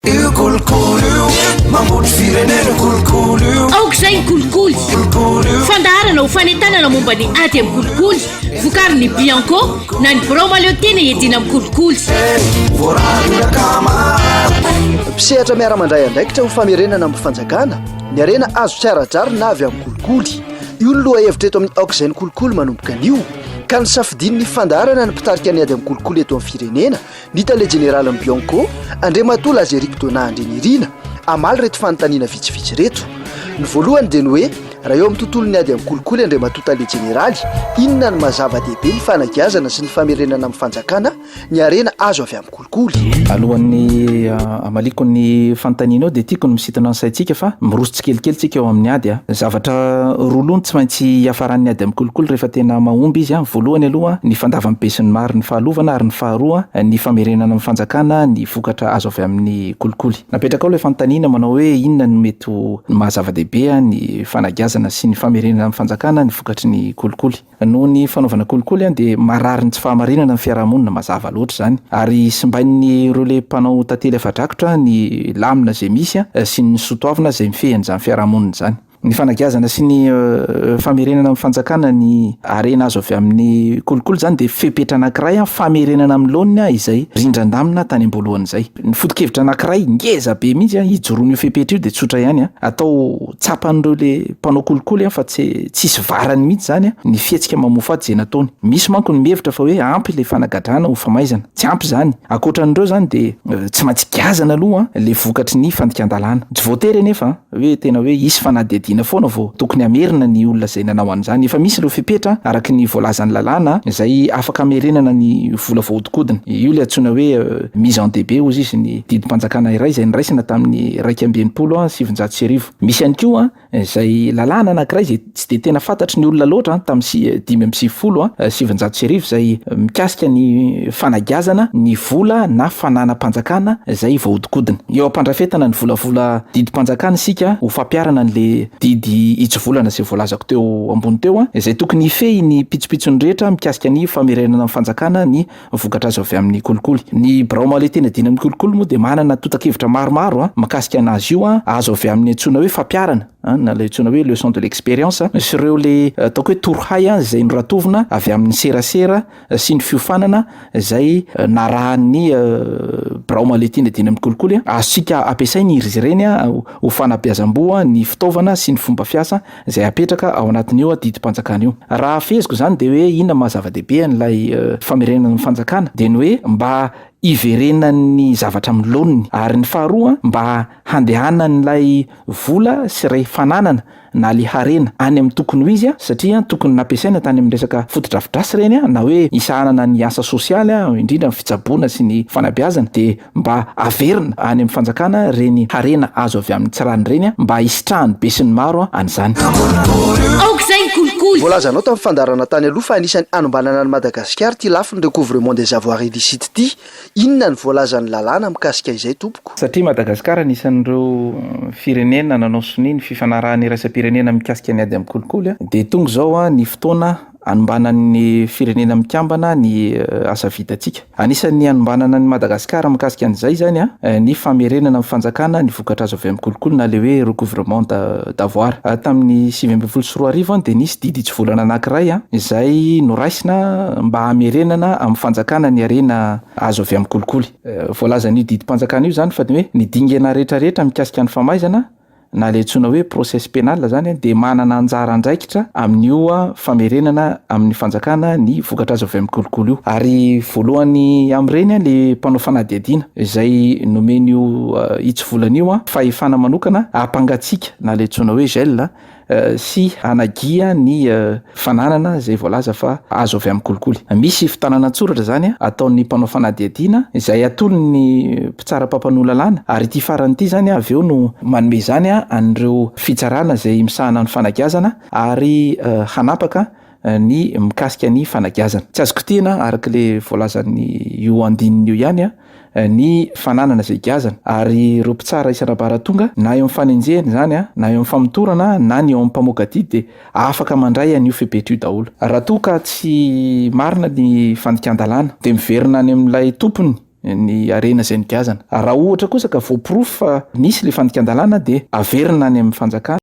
Io kolikoly io mambotry firenena kolikoly io aoka izay ny kolikoly fandaharana ho fanentanana momba ny ady amin'ny kolikoly vokary ny bianco na ny birao maleo tena edina amin'ny kolikoly mpisehatra miara-mandray andraikitra ho famerenana amin'ny fanjakana ny arena azo tsy ara-drary na avy amin'ny kolikoly io ny loha hevitra eto amin'ny aoka izay ny kolikoly manomboka anio ka ny safidin'ny fandaharana ny mpitarika ny ady amin'ny kolikoly eto amin'ny firenena Ny tale jeneralin'ny Bianco, Andriamatoa Lazeric Donat Andrianirina, hamaly ireto fanontaniana vitsivitsy ireto. Ny voalohany dia ny hoe, raha eo amin'ny tontolon'ny ady amin'ny kolikoly Andriamatoa tale jeneraly, inona no maha zava-dehibe ny fanagiazana sy ny famerenana amin'ny fanjakana ny harena azo avy amin'ny kolikoly? Alohan'ny Amaliako ny fanontanianao dia tiako ny misintona ny saintsika fa miroso tsikelikely tsika eo amin'ny ady a! Zavatra roa loha no tsy maintsy hiafaran'ny ady amin'ny kolikoly rehefa tena mahomby izy a! Voalohany aloha ny fandavan'ny besinimaro ny fahalovana ary ny faharoa ny famerenana amin'ny fanjakana ny vokatra azo avy amin'ny kolikoly. Napetrakao ilay fanontaniana manao hoe inona no mety ho ny maha zava-dehibe a! ny fanagiazana sy ny famerenana amin'ny fanjakana ny vokatry ny kolikoly. Noho ny fanaovana kolikoly dia marary ny tsy fahamarinana ny fiarahamonina mazava loatra izany ary simbain'ny relais mpanao tantely afa-drakotra ny lamina izay misy sy ny sotoavina izay mifehy an'izany fiarahamonina izany. Ny fanagiazana sy ny famerenana amin'ny fanjakana ny harena azo avy amin'ny kolikoly izany dia fepetra anankiray famerenana amin'ny laoniny izay rindran-damina tany am-boalohany izay. Ny foto-kevitra anankiray ngeza be mihitsy a hijoroan'io fepetra io de tsotra ihany a, atao tsapan'ireo le mpanao kolikoly a fa tsy tsisy varany mihitsy zany a ny fihetsika mamoafady zay nataony. Misy manko ny mihevitra fa hoe ampy le fanagadrana ho famaizana. Tsy ampy zany. Ankoatran'ireo zany de tsy maintsy giazana aloha le vokatry ny fandikan-dalàna. Tsy voatery anefa a. hoe tena hoe hisy fanadihadiana foana vao tokony hamerina ny olona izay nanao an'izany. Efa misy ireo fepetra araka ny voalazan'ny lalàna izay afaka hamerenana ny vola voahodinkodina. Io ilay antsoina hoe mise en DB hozy izy ny didim-panjakana iray izay niraisana tamin'ny iraika amby enimpolo sy sivinjato sy arivo. Misy ihany koa izay lalàna anankiray izay tsy dia tena fantatry ny olona loatra tamin'ny si- dimy amby sivifolo a- eh, sy sivinjato sy arivo izay eh, mikasika ny fanagiazana ny vola na fananam-panjakana izay voahodinkodina. Eo am-pandrafetana ny volavola didim-panjakana isika ho fampiharana an'le didy hitsivolana izay voalazako teo ambony teo a, izay tokony hifehy ny pitsopitsony rehetra mikasika ny famerenana ny fanjakana ny vokatra azo avy amin'ny kolikoly. Ny birao mahaleotena diana amin'ny kolikoly moa dia manana totakevitra maromaro a, makasika anazy io a, azo avy amin'ny antsoina hoe fampiarana a, na ilay antsoina hoe leçon de l'expérience, sy ireo le ataoko hoe torohay a, izay noratovina avy amin'ny serasera sy ny fiofanana izay narahan'ny birao mahaleotena diana amin'ny kolikoly a. Azontsika ampiasaina iry ireny a, ho fanabeazam-boa ny fitaovana sy ny fomba fiasa, izay hapetraka ao anatin'io didim-panjakana io. Raha hafeziko izany dia hoe inona maha zava-dehibe an'ilay famerenana ny fanjakana dia ny hoe mba hiverenan'ny zavatra amin'ny laoniny ary ny faharoa mba handehanan'ilay vola sy ilay fananana na ilay harena any amin'ny tokony ho izy satria tokony nampiasaina tany amin'ny resaka fotodrafidrasy ireny na hoe hisahanana ny asa sosialy indrindra ny fitsaboana sy ny fanabeazana dia mba averina any amin'ny fanjakana ireny harena azo avy amin'ny tsirany ireny mba hisitrahan'ny besinimaro an'izany. Voalazanao tamin'ny fandaharana tany aloha fa anisan'ny hanombanana an'i Madagasikara ity lafiny recouvrement des avoirs illicites ity. Inona ny voalazan'ny lalàna mikasika izay tompoko? Satria Madagasikara anisan'ireo firenena nanao sonia ny fifanarahan'ny iraisam-pirenena mikasika ny ady amin'ny kolikoly dia tonga izao ny fotoana Anombanan'ny Firenena Mikambana ny asa vitantsika. Anisan'ny anombanana an'i Madagasikara mikasika an'izay izany ny famerenana ny fanjakana ny vokatra azo avy amin'ny kolikoly na ilay hoe recouvrement d'avoir. Tamin'ny sivy ambin'ny folo sy roa arivo dia nisy didy hitsivolana anankiray izay noraisina mba hamerenana amin'ny fanjakana ny harena azo avy amin'ny kolikoly. Voalazan'io didim-panjakana io izany fa ny hoe ny dingana rehetrarehetra mikasika ny famaizana na ilay antsoina hoe procès pénal izany dia manana anjara andraikitra amin'io famerenana amin'ny fanjakana ny vokatra azo avy amin'ny kolikoly io. Ary voalohany amin'ireny ilay mpanao fanadihadiana izay nomen'io hitsivolana io fahefana manokana hampangatsiaka na ilay antsoina hoe gel sy hanagia ny fananana izay voalaza fa azo avy amin'ny kolikoly. Misy fitanana an-tsoratra izany ataon'ny mpanao fanadihadiana izay atolon'ny mpitsara mpampanoa lalàna ary ity farany ity izany avy eo no manome izany an'ireo fitsarana izay misahana ny fanagiazana ary hanapaka ny mikasika ny fanagiazana. Tsy azo kitihina araka ilay voalazan'io andininy io ihany ny fananana izay giazana ary ireo mpitsara isan'ambaratonga na eo amin'ny fanenjehana izany na eo amin'ny famotorana na ny eo amin'ny mpamoaka didy dia afaka mandray an'io fepetra io daholo. Raha toa ka tsy marina ny fandikan-dalàna dia miverina any amin'ilay tompony ny harena izay nigiazana. Raha ohatra kosa ka voaporofo fa nisy ilay fandikan-dalàna dia averina any amin'ny fanjakana.